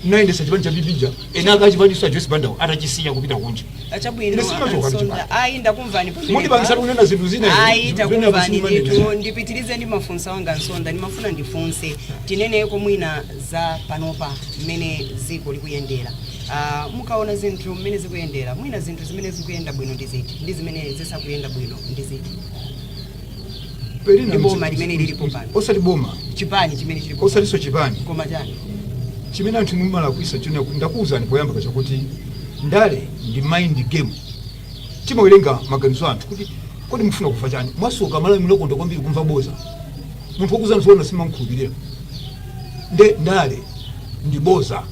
ndinayendesa chipani cha PP chija eni ake a chipani a joyce banda atachisiya kupita kunja achabwino Ine sinachoka ndi a Msonda. chipani. ayi ndakumvani pamenepa. mundipangisa kunena zinthu zina ine, ayi zinthu zimene takumvani akusimanena. ndithu ndipitirize ndi mafunso anga a Msonda ndimafuna ndifunse tineneko mwina za panopa mmene dziko likuyendera Ah, mukaona zinthu mmene zikuyendera mwina zinthu zimene zikuyenda bwino ndi ziti ndi zimene zisakuyenda bwino ndi ziti Pelina ndi boma mchitso- limene lilipo pano osati boma chipani chimene chilipo osatinso chipani koma chani chimene anthu mumalakwisa china ndakuwuzani poyamba paja kuti ndale ndi mind game timawerenga maganizo a anthu kuti kodi mufuna kumva chani mwasoka amalawi munakonda kwambiri kumva boza munthu wokuuzani zoona simamkhulupirira nde ndale ndi boza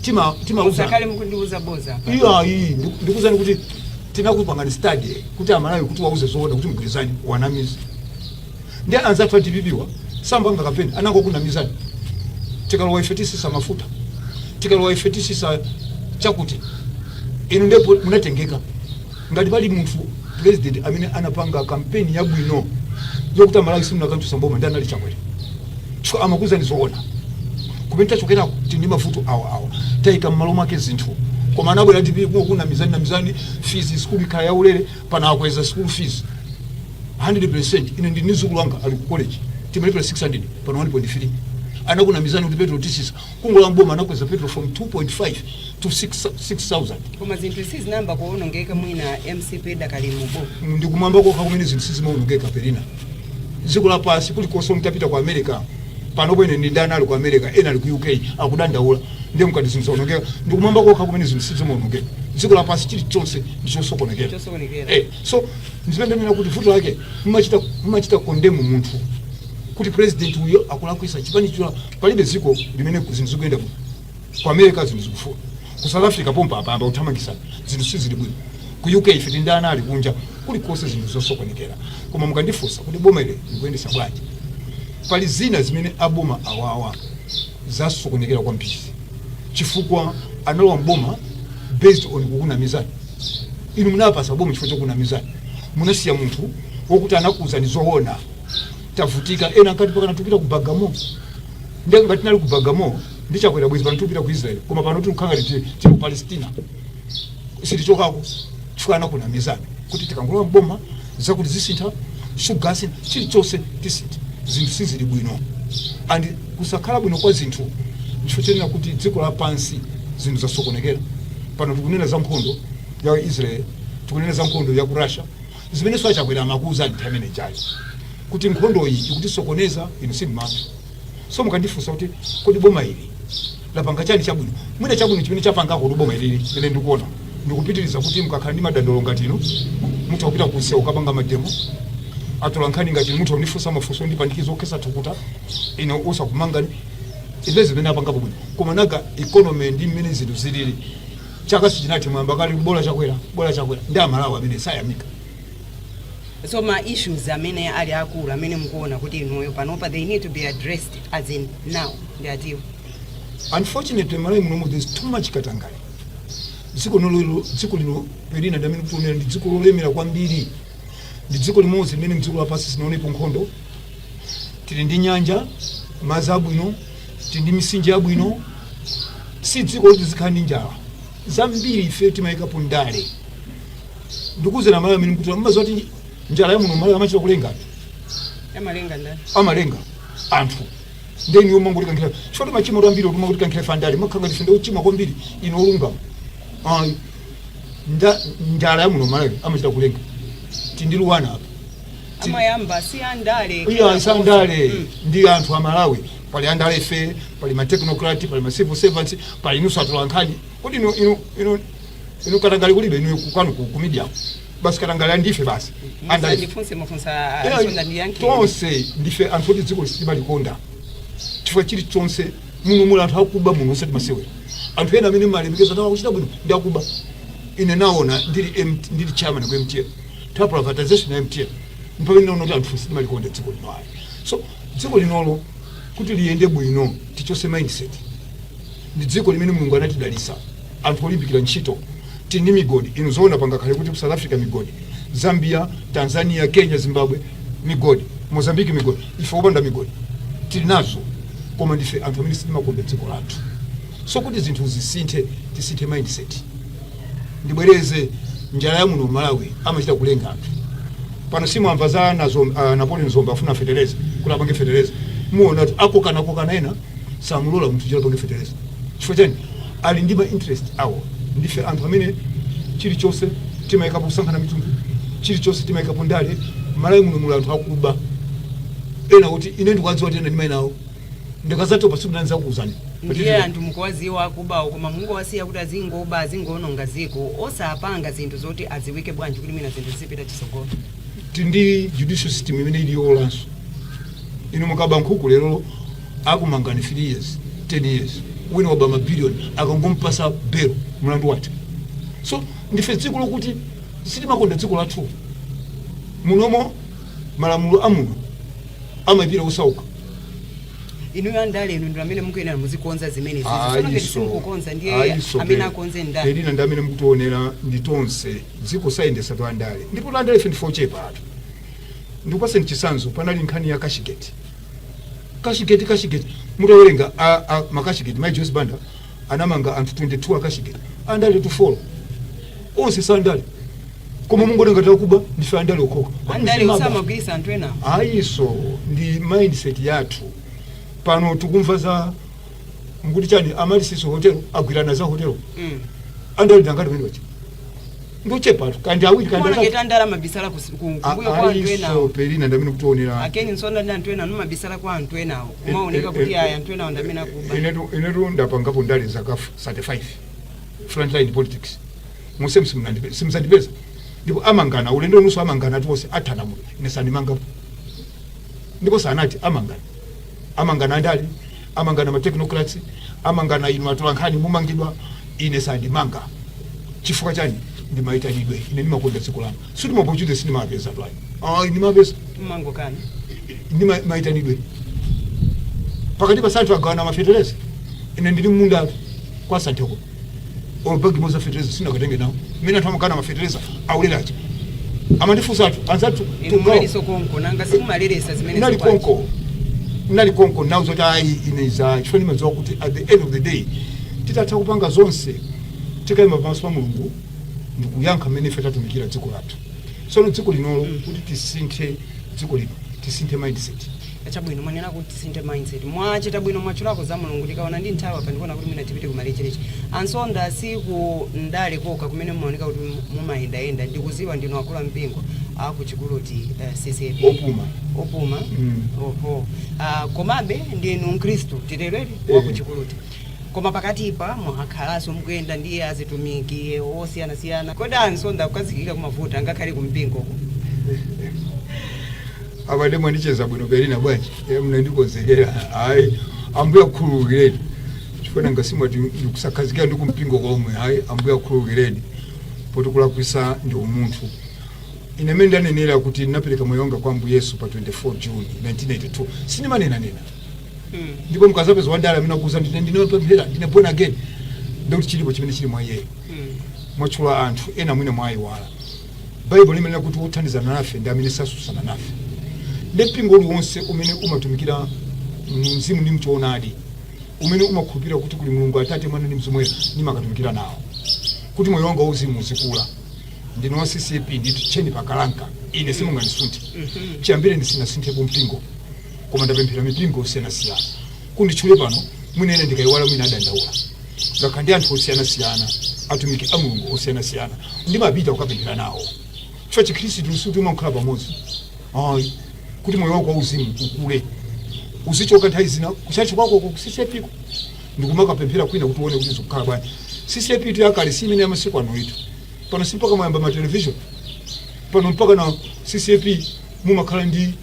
tima timawuzani usakale mukundiuza boza apa. iyayi ndikuuzani kuti tinakupangani study kuti amalawi kuti uwauze zoona kuti mgwirizane uwanamize ndi anzathu a dpp wa sanapange kampeni anangokunamizani tikalowa ife tisisa mafuta tikalowa ife tisisa chakuti inu ndipo munatengeka ngati pali munthu president amene anapanga kampeni yabwino yokuti amalawi simunakamchosa mboma ndi anali chakwera chifukwa amakuuzani zoona kumene tachokerako tili ndi mavuto awa awa taika m'malo mwake zinthu koma anabwera dpp kukunamizani namizani fees sikulu ikhala yaulere pana akweza sikulu fees 100% ine ndi mdzukulu wanga ali ku college timalipira 600 pano 1.3 anakunamizani kuti petro titsitsa Kungolowa m'boma anakweza petrol from 2.5 to 6 6000. Koma zinthu sizinayamba kuonongeka mwina mcp idakali m'boma. ndikumwamba kokha kumene zinthu sizimaonongeka Pelina dziko lapansi kulikonse mutapita ku america pano ine ndi ana ali ku america ena ali ku uk akudandaula ndiye mukati zinthu zaonongeka ndikumwamba kokha kumene zinthu sizimaonongeka dziko lapansi chilichonse ndichosokonekera Chosokonekera. eh, so ndipamene ndanena kuti vuto lake mumachita mumachita kondemu munthu kuti president uyo akulakwisa chipani chula Palibe dziko limene zinthu zikuyenda bwino. Ku America zinthu zikuvuta. Ku South Africa pompa apa ayamba kuthamangisana. Zinthu sizili bwino. Ku UK ife tili ndi ana ali kunja. Kulikonse zinthu zosokonekera. Koma mukandifunsa kuti boma ili likuyendetsa bwanji? Pali zina zimene a boma awawa zasokonekera kwambiri chifukwa analowa m'boma based on kukunamizani. Inu munawapatsa boma chifukwa chokunamizani. Munasiya munthu wokuti anakuuzani zoona. tavutika ena ankati pa kanani tupita ku bagamoyo ndiye ngati tinali ku bagamoyo ndi chakwera bwezi pano tupita ku israel koma pano tikukhala ngati tili- tili ku palestina sitichokako chifukwa anakunamizani kuti tikangolowa mboma zakuti zisintha sugar chilichonse tisintha zinthu sizili bwino and kusakhala bwino kwa zinthu chifukwa chonena kuti dziko lapansi zinthu zasokonekera pano tikunena za nkhondo ya israel tikunena za nkhondo ya ku russia Zimenenso a Chakwera amakuuzani nthawi imene ijayo kuti nkhondoyi ikutisokoneza inu simumamva. So mukandifunsa kuti kodi boma ili lapanga chani chabwino, mwina chabwino chimene lapangako boma ilili ine ndikuona ndikupitiriza kuti mukakhala ndi madandaulo ngati inu mutha kupita kunsewu kukapanga mademo atolankhani ngati inu mutha kundifunsa mafunso ondipandikiza okhetsa thukuta ine osakumangani izo zimene apangapo bwino koma nanga economy ndi mmene zinthu zilili chaka sichinathe mwayamba kale bola chakwera bola chakwera ndi amalawi amene sayamika so ma issues amene ali akulu amene mukuona kuti inuyo panopa they need to be addressed as in now ndi ati unfortunately malawi munomo there's too much katangale dziko linolo dziko lino pelina ndi amene akutionera ndi dziko lolemera kwambiri ndi dziko limodzi limene mdziko lapansi silinaonepo nkhondo tili ndi nyanja madzi abwino tili ndi mitsinje yabwino si dziko loti tizikhala ndi njala zambiri ife timayikapo ndale ndikuuzeni amalawi amene kuti mumadziwa kuti njala ya muno malawi amachita kulenga amalenga ndani amalenga anthu ndi ine yomwe ngoti kankhira chifukwa machimo ambiri otuma kuti kankhira pandale makhanga ndife ndikuchima kwambiri inu olungama ayi nde njala ya muno malawi amachita kulenga tili ndi luwana apa amayamba si andale iyayi si andale ndi anthu a malawi pali andalefe pali matechnocrat pali macivil servants pali inuso atolankhani kodi inu inu inu inu katangale kulibe inu kwanu ku- ku media basi katangale ndife basi andale ndifunse mafunsa Yeah, a msonda ndiyankhe tonse ndife anthu oti dziko ili sitimalikonda chifukwa chilichonse muno muli anthu akuba muno osati masewera anthu ena amene mumalemekeza kuti awa akuchita bwino ndi akuba ine naona ndili M- ndili chairman ku mtl ta privatization ya mtl mpamene naona kuti anthu sitimalikonda dziko lino ayi so dziko linolo kuti liyende bwino tichose mindset ndi dziko limene mulungu anatidalisa anthu olimbikira ntchito tili ndi migodi inu zoona pangakhale kuti ku south africa migodi zambia tanzania kenya zimbabwe migodi mozambique migodi ife opanda migodi tili nazo koma ndife anthu amene sitimakonda dziko lathu so kuti zinthu zisinthe tisinthe mindset ndibwereze njala ya muno malawi amachita kulenga anthu pano simwamva za nazo, uh, napoleon dzombe afuna fetereza kuti apange fetereza muona kuti akokanakokana ena samulola munthu kuti apange fetereza chifukwa chani ali ndi ma interest awo ndife anthu amene chilichonse timayikapo kusankhana mitundu chilichonse timayikapo ndale malawi muno muli anthu akuba ena oti ine ndikuwadziwa kuti ena ndimayi nawo ndikazatopa siku lina ndizakuuzani ndiye anthu mukuwaziwa akubawo koma mungowasiya kuti azingoba azingoononga ziko osapanga zinthu zoti aziwike bwanji kuti mwina zinthu zipite chisogolo tindi judicial system imene ili yowolanso inu mukaba nkhuku lero akumangani 3 years 10 years wina waba mabilioni akangompasa belo mlandu watha so ndife dziko lokuti sitimakonda dziko lathu munomo malamulo amuno amayipira osauka inuyo andale inu ndi amene mukuyenera muzikonza zimenezi tsono ngati ayi so simukukonza ndiye ayi so amene pe- akonze ndani pelina ndi amene mukutionera ndi tonse dziko sayendesatu andale ndipotu andale ife ndife ochepatu ndikupaseni chisanzo panali nkhani ya cashgate cashgate cashgate mutawerenga a- a- ma cashgate mai joyce banda anamanga anthu 22 a cashgate andaletu folo onse si andale koma mungoti ngati akuba ndife andale okhaokha andale osamagwirisa anthu enawo ayi so ndi mindset yathu pano tikumva za mukuti chani amaryllis hotelo agwirana za hotelo Mm. andale ndangati pamene paja ndochepatu kaya ndi awiri kaya ndi Kuona atatu. ngati andale mumabisala kus- ku- A- kumbuyo kwa anthu ayi so enawo pelina ndamene mukutionera a ken msonda ndi anthu enawo mumabisala kwa anthu enawo kumaoneka kuti eh, aya anthu enawo ndamene akuba inetu inetu ndapangapo ndale zaka 35 frontline politics muse msimunandi- simuzandipeza ndipo amangana ulendo unoso amanganatu wose athana muno ine sandimangapo ndipo sanati amangana amangana andale Amangana ma technocrats, amangana inu atolankhani mumamangidwa, ine sandimanga. Chifukwa chani? Ndi maitanidwe. Ine ndimakonda dziko langa. Sikuti ma opportunities sindimawapezatu ayi. Ayi ndimawapeza. Mumangokana. Ndi ma- maitanidwe. Pakatipa Santhe agawana mafetereza. Ine ndili mmundatu kwa Santheko. olo bag imodzi ya fetereza sindakatenge nawo mmene anthu amakana mafetereza aulere aja amandifunsatu anzathu inu tu munalinso konko nanga simumaleresa zimene nali zikwazi. konko nali konko nawo zoti ayi ine za chifukwa ndimadziwa kuti at the end of the day titatha kupanga zonse tikayima pamaso pa mulungu ndikuyankha mmene ife tatumikira dziko lathu sono dziko linolo kuti tisinthe dziko lino tisinthe mindset Chabwino, mwanena kuti tisinthe mindset. Mwachita bwino mwatchulako za Mulungu. Ndikaona ndi nthawi apa ndikuona kuti mwina tipite kumalecheleche. A Nsonda, si ku ndale kokha kumene mumaoneka kuti mu- mumayendayenda. Ndikuziwa ndinu akulu ampingo a ku Chikuluti eh, CCAP. Opuma. Opuma. Mm. Oho. Ah, komabe ndinu Mkristu titerere wa ku Eh. Chikuluti. Koma pakatipa mwakhalanso mukuyenda ndi atumiki osiyanasiyana. Kodi a Nsonda kukazikika kumavuta ngakhale kumpingo uko? abale mwandicheza bwino Pelina bwanji Eh, mnandikonzekera ayi ambuye akhululukireni chifukwa nanga simwati ndikusakhazikika ndi kumpingo komwe ayi ambuye akhululukireni poti kulakwisa ndi umunthu ine mene ndanenera kuti ndinapereka moyo wanga kwa ambuye yesu pa 24 june 1982 sindimanenanena ndipo mukazapeza wandale amene akuuza ndimapemphera ndine born again ndikuti chilipo chimene chili mwa iyeyo mwatchula anthu ena mwina mwayiwala Baibulo limanena kuti wothandizana nafe ndi amene sasusana nafe ndi mpingo uliwonse umene umatumikira mumzimu ndi mchoonadi umene umakhulupirira kuti kuli mulungu atate mwana ndi mzimu woyera ndimakatumikira nawo kuti moyo wanga wauzimu uzikula ndine wa CCAP ndithu tcheni pakalanka ine simungandisunthe chiyambire sindinasinthepo mpingo koma ndapemphera mipingo yosiyanasiyana kuti nditchule pano mwina ena ndikayiwala mwina adandaula ndakhala ndi anthu osiyanasiyana atumiki a mulungu osiyanasiyana ndimapita kukapemphera nawo chifukwa chikhristu sikuti umakhala pamodzi ayi kuti moyo wako wauzimu ukule uzichoka nthawi zina kuchachi kwako ku CCAP ko ndikumakapemphera kwina kuti uone kuti zikukhala bwanji CCAP tu yakale si imene yamasiku ano iyitu pano si mpaka mwayamba ma television pano mpakana CCAP mumakhala ndi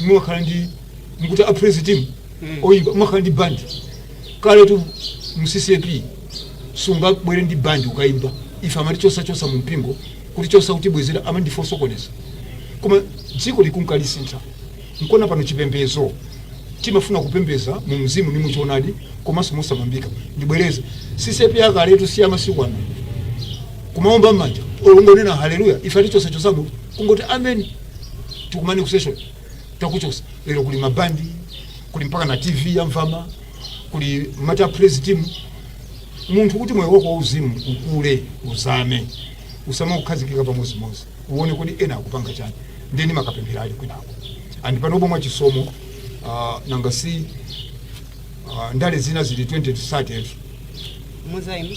mumakhala ndi mukuti a praise team oyimba umakhala ndi band kale tu mu CCAP sungabwere ndi band ukayimba ife amatichosachosa mu mpingo kutichosa kutibwezera amati ndife osokoneza koma dziko likunka lisintha nkona pano chipembezo timafuna kupembeza mu mzimu ndi muchoonadi komanso mosamangika ndibwereze CCAP yakaletu si amasiku ano kumaomba mmanja olo kungonena haleluya ife atichosachosamu kungoti amen tikumane kusession takuchosa lero kuli mabandi kuli mpaka na tv ya mvama kuli ma praise team munthu kuti moyo wako wauzimu ukule uzame usamakhazikike pamozimozi uone kodi ena akupanga chani ndeni makapemphera uli kwinako and panopo mwa chisomo uh, nanga si uh, ndale zina zili 2030 muzaima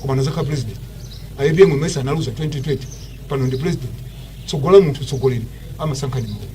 koma anazakhala president apm mesa analuza 2020 pano ndi president tsogola munthu tsogoleri amasankha ndi mulungu